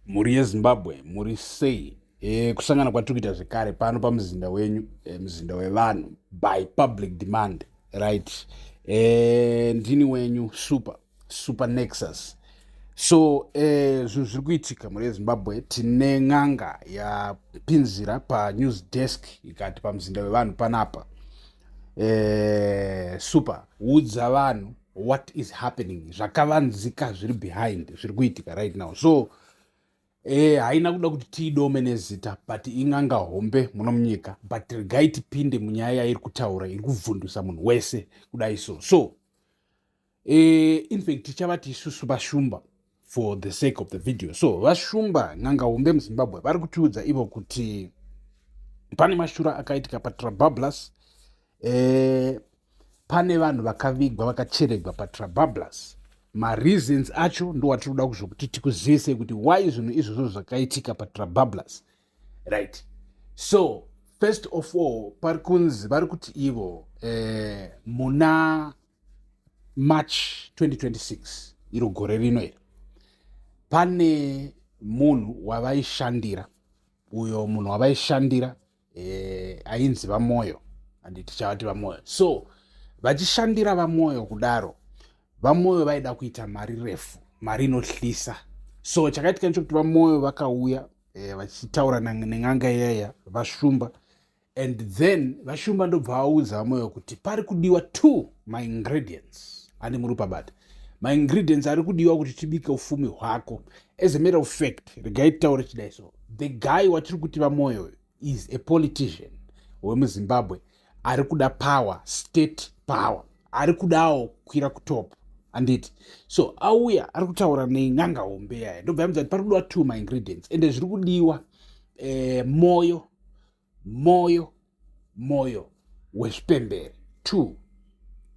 Mhuri yeZimbabwe muri sei? E, kusangana kwatiri kuita zvekare pano pamuzinda wenyu e, muzinda wevanhu by public demand right e, ndini wenyu super super nexus so e, zvinhu zviri kuitika mhuri yezimbabwe tine n'anga yapinzira panews desk ikati pamuzinda wevanhu panapa e, super udza vanhu what is happening zvakavanzika zviri behind zviri kuitika right now so eh, haina kuda kuti tiidome nezita but ing'anga hombe muno munyika but regai tipinde munyaya yairi kutaura iri kubvundusa munhu wese kudai so so eh, infact tichavati isusu vashumba for the sake of the video so vashumba n'anga hombe muzimbabwe vari kutiudza ivo kuti pane mashura akaitika patrabablas eh, pane vanhu vakavigwa vakacheregwa patrabablas mareasons acho ndowatiri kuda kuzokuti tikuzivise kuti why zvinhu izvozvo zvakaitika patrabablas right so first of all pari kunzi vari kuti ivo eh, muna march 2026 iro gore rino iri pane munhu wavaishandira uyo munhu wavaishandira eh, ainzi vamoyo handi tichavati vamoyo so vachishandira vamoyo kudaro vamoyo vaida kuita mari refu mari inohlisa so chakaitika ndechokuti vamoyo vakauya eh, vachitaura nen'anga iyaya vashumba and then vashumba ndobva vaudza vamoyo kuti pari kudiwa two maingredients ane murupa bata maingredients ari kudiwa kuti tibike ufumi hwako as a matter of fact regai titaure chidai so the guy watiri kuti vamoyo is a politician wemuzimbabwe ari kuda power state power ari kudawo kukwira kutop handiti so auya ari kutaura nen'anga hombe yaya ndobva yamudza kuti pari kudiwa two maingredients ende zviri kudiwa eh, moyo moyo moyo wezvipembere two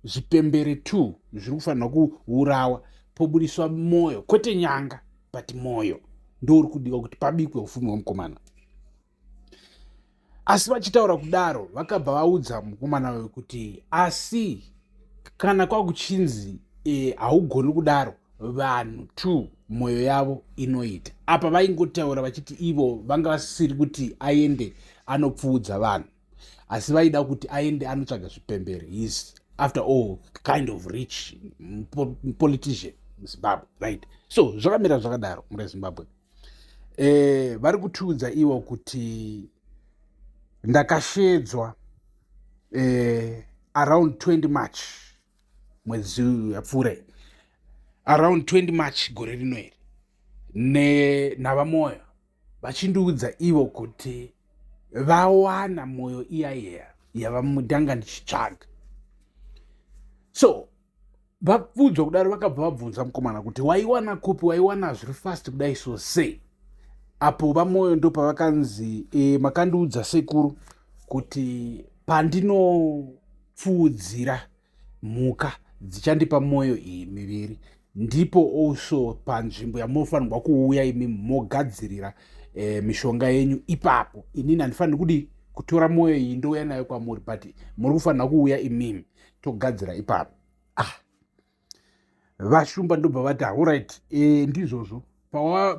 zvipembere two zviri kufanirwa kuurawa pobudiswa moyo kwete nyanga but moyo ndouri kudiwa kuti pabikwe ufumi hwemukomana asi vachitaura kudaro vakabva vaudza mukomana wavo kuti asi kana kwakuchinzi e, haugoni e, kudaro vanhu two mwoyo yavo inoita apa vaingotaura vachiti ivo vanga vasisiri kuti aende anopfuudza vanhu asi vaida kuti aende anotsvaga zvipembere his after all kind of rich politician muzimbabwe right so zvakamira zvakadaro murezimbabwe eh, vari kutiudza ivo kuti ndakashedzwa eh, around 20 march mwedzi yapfuura around 20 march gore rino iri nenhavamoyo vachindiudza ivo kuti vawana mwoyo iya iya yavamudanga ndichitsvaga so vapfuudzwa kudaro vakabva vabvunza mukomana kuti waiwana kupi waiwana zviri fast kudai so sei apo vamwoyo ndo pavakanzi e, makandiudza sekuru kuti pandinopfuudzira mhuka dzichandipa mwoyo iyi miviri ndipo also panzvimbo yamunofanirwa kuuya imi mogadzirira e, mishonga yenyu ipapo inini handifaniri kudii kutora mwoyo iyi ndouya nayo kwamuri but muri kufanira kuuya imimi togadzira ipapo ah. vashumba ndobva vati auright e, eh, ndizvozvo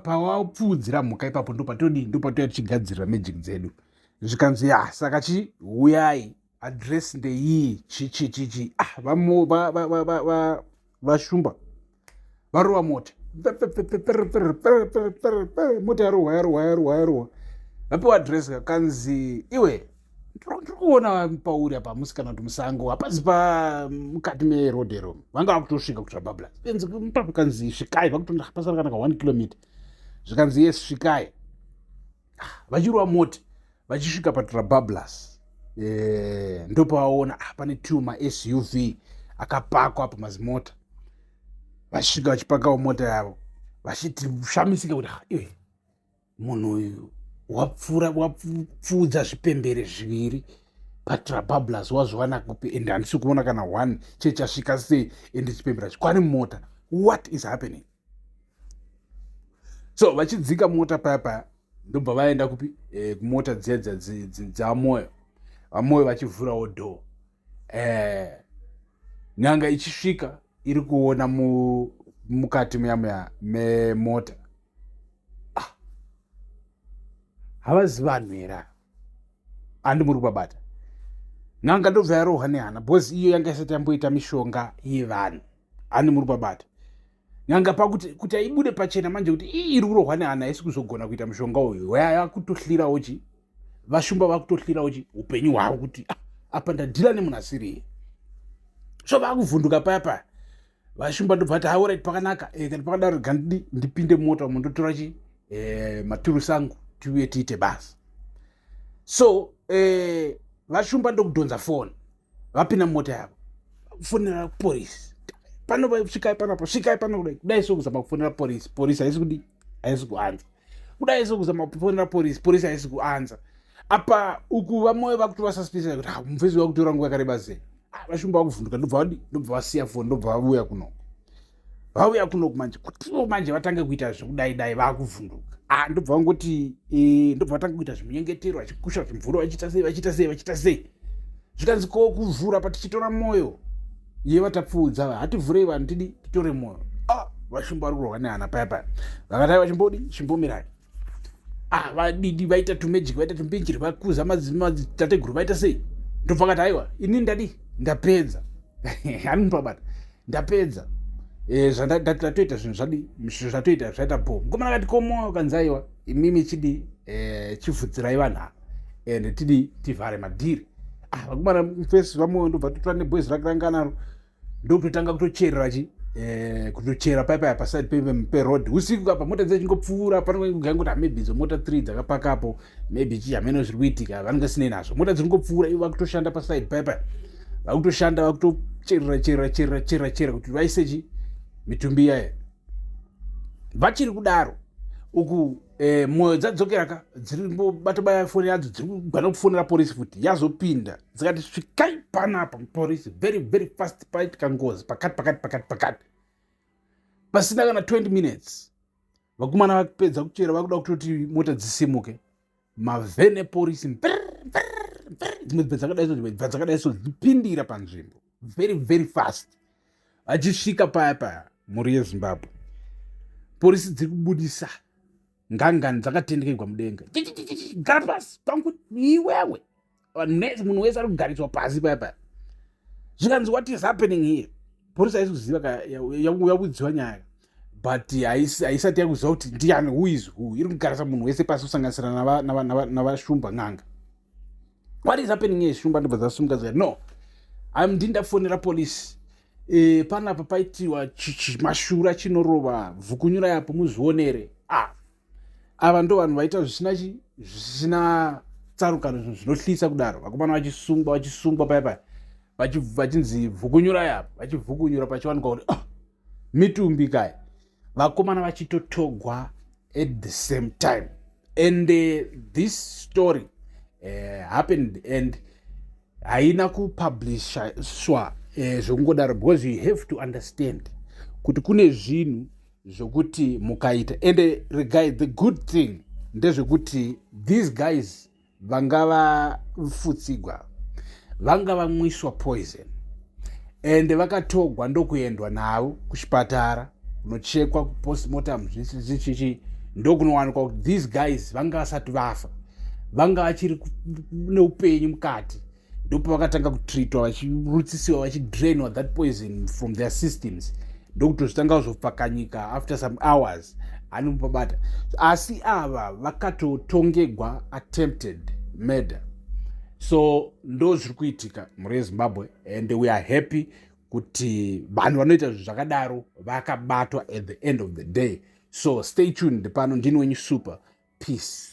pawapfuudzira pawa mhuka ipapo ndopatodii ndopatouya tichigadzirira magic dzedu zvikanzi ya saka chi huyai adress ndeyii chichichichi ah, vashumba varova mota mota yarohwa yarohwa yarohwa yarohwa vapiwa adress kakanzi iwe ndiri kuona pauri apa musi kana kuti musango hapazi pa mukati meroad ero vanga vakutosvika kutsva babla enzi mupapo kanzi svikai vakutonda hapasara kana ka one kilometer zvikanzi yes svikai vachirova moti vachisvika patrabablas e, eh, ndopavaona ah, pane two masuv akapakwa apo mazimota vachisvika vachipakawo mota yavo vachiti shamisika kuti iwe munhu uyu wapfuura wapfuudza zvipembere zviviri patrabablas wazviwana kupi and handisi kuona kana one chechasvika sei and chipembera chikwani mota what is happening so vachidzika mota paya paya ndobva vaenda kupi e, kumota dziya dzamoyo vamoyo vachivhurawo dho e, eh, nyanga ichisvika iri kuona mu, mukati muyamuya memota ah. havazi vanhu here handi muri kubabata n'anga ndobva yarohwa nehana bhozi iyo yanga isati yamboita mishonga yevanhu handi muri kubabata n'anga pakuti kuti aibude pachena manje kuti ii iri kurohwa nehana haisi kuzogona kuita mushonga uyu yakutohlirawo chi vashumba vakutohlirawo chi upenyu hwavo kuti ah, apa ndadhila nemunhu asiriye so vakuvhunduka paya paya vashumba ndobva ti haurit pakanaka eh, kana pakadaro gandidi ndipinde mota umo ndotora chi eh, maturusi angu tiuye tiite basa so eh, vashumba ndokudhonza foni vapinda mota yavo fonera polisi pano svikai panapo svikai pano kudai kudai so kuzama kufonera polisi polisi haisi kudii haisi kuanza kudai isi kuzama kufonera porisi porisi haisi kuanza apa uku vamwe vakuti vasuspisa kuti ah, mufesi vakutora nguva yakareba zeni ah, vashumba vakuvhunduka ndobva vadi ndobva vasiya foni ndobva vavuya kunoku vauya kunoku manje kutivo manje vatange kuita zvekudai dai vakuvhunduka ah, ndobva vangoti e, ndobva vatange kuita zvimunyengetero vachikusha zvimvura vachiita sei vachiita sei vachiita sei zvikanzi ko kuvhura patichitora mwoyo ye vatapfuudza ava hativhurei vanhu tidi titore mwoyo ah, vashumba vari kurwa nehana paya paya vakadai vachimbodi chimbomirai ah, vadidi vaita tumagic vaita tumpinjiri vakuza madzitateguru vaita sei ndobva kati aiwa ini ndadi ndapedza anipabata ndapedza eh, zvandatoita zvinhu zvadi zvatoita zvaita bo mukomana kati komoyo kanzaiwa imimi chidi eh, chivhudzirai vanhu ava and tidi tivhare madhiri ah, vakomana fesi vamoyo ndobva totora nebwezi rake ranga naro ndokutotanga kutocherera chi eh, kutochera paipaya paside peroad usiku apa mota dzechingopfuura panokugaa kuti maybe idzo mota three dzakapakapo maybe chii hameno zviri kuitika vanenge sinei nazvo mota dziri kungopfuura ivo vakutoshanda paside paipaya vakutoshanda vakutocherera cherera cherera cherera cherera kuti vaise chi mitumbi yaya vachiri kudaro uku eh, mwoyo dzadzokera ka dziri bato baya foni yadzo dziri kugwana kufonera porisi futi yazopinda dzikati svikai panapa porisi very very fast paitika ngozi pakati pakati pakati pakati pasina kana 20 minutes vakomana vakupedza kuchera vakuda kutoti mota dzisimuke mavhene porisi dzimwe dzimwe dzakadai so dzimwe dzakadai so dzipindira panzvimbo very very fast vachisvika paya paya mhuri yezimbabwe porisi dziri kubudisa ngangani dzakatendekerwa mudenga gara pasi pangu iwewe munhu wese ari kugariswa pasi paya paya zvikanzi what is happening here porisi haisi kuziva yakudziwa nyaya but haisati yakuziva kuti ndiani who is who iri kugarisa munhu wese pasi kusanganisira navashumba n'anga what is happening here shumba ndobva dzasumuka dzikati no am ndini ndafonera police e, panapa paitiwa mashura chinorova bvukunyura yapo muzvionere ah ava ndo vanhu vaita zvisina chi zvisina tsarukano zvinhu zvinohlisa kudaro vakomana vachisungwa vachisungwa paya paya vachinzi bvukunyura yapo vachibvukunyura pachiwanikwa kuti ah, mitumbi kai vakomana vachitotogwa at the same time and uh, this story uh, happened and haina kupublishwa uh, zvokungodaro because you have to understand kuti kune zvinhu zvokuti mukaita and uh, regai the good thing ndezvekuti these guys vanga vafutsigwa vanga vamwiswa poison ende vakatogwa ndokuendwa navo kuchipatara kunochekwa kupostmortem zvichichi ndokunowanikwa kuti these guys vanga vasati vafa vanga vachiri neupenyu mukati ndopavakatanga kutreatwa vachirutsisiwa vachidrainwa that poison from their systems ndokutozvitanga kuzopfakanyika after some hours anomubabata asi ava vakatotongegwa attempted murder so ndo zviri kuitika mhuri yezimbabwe and we are happy kuti vanhu vanoita zvinhu zvakadaro vakabatwa at the end of the day so stay tuned pano ndini wenyu super peace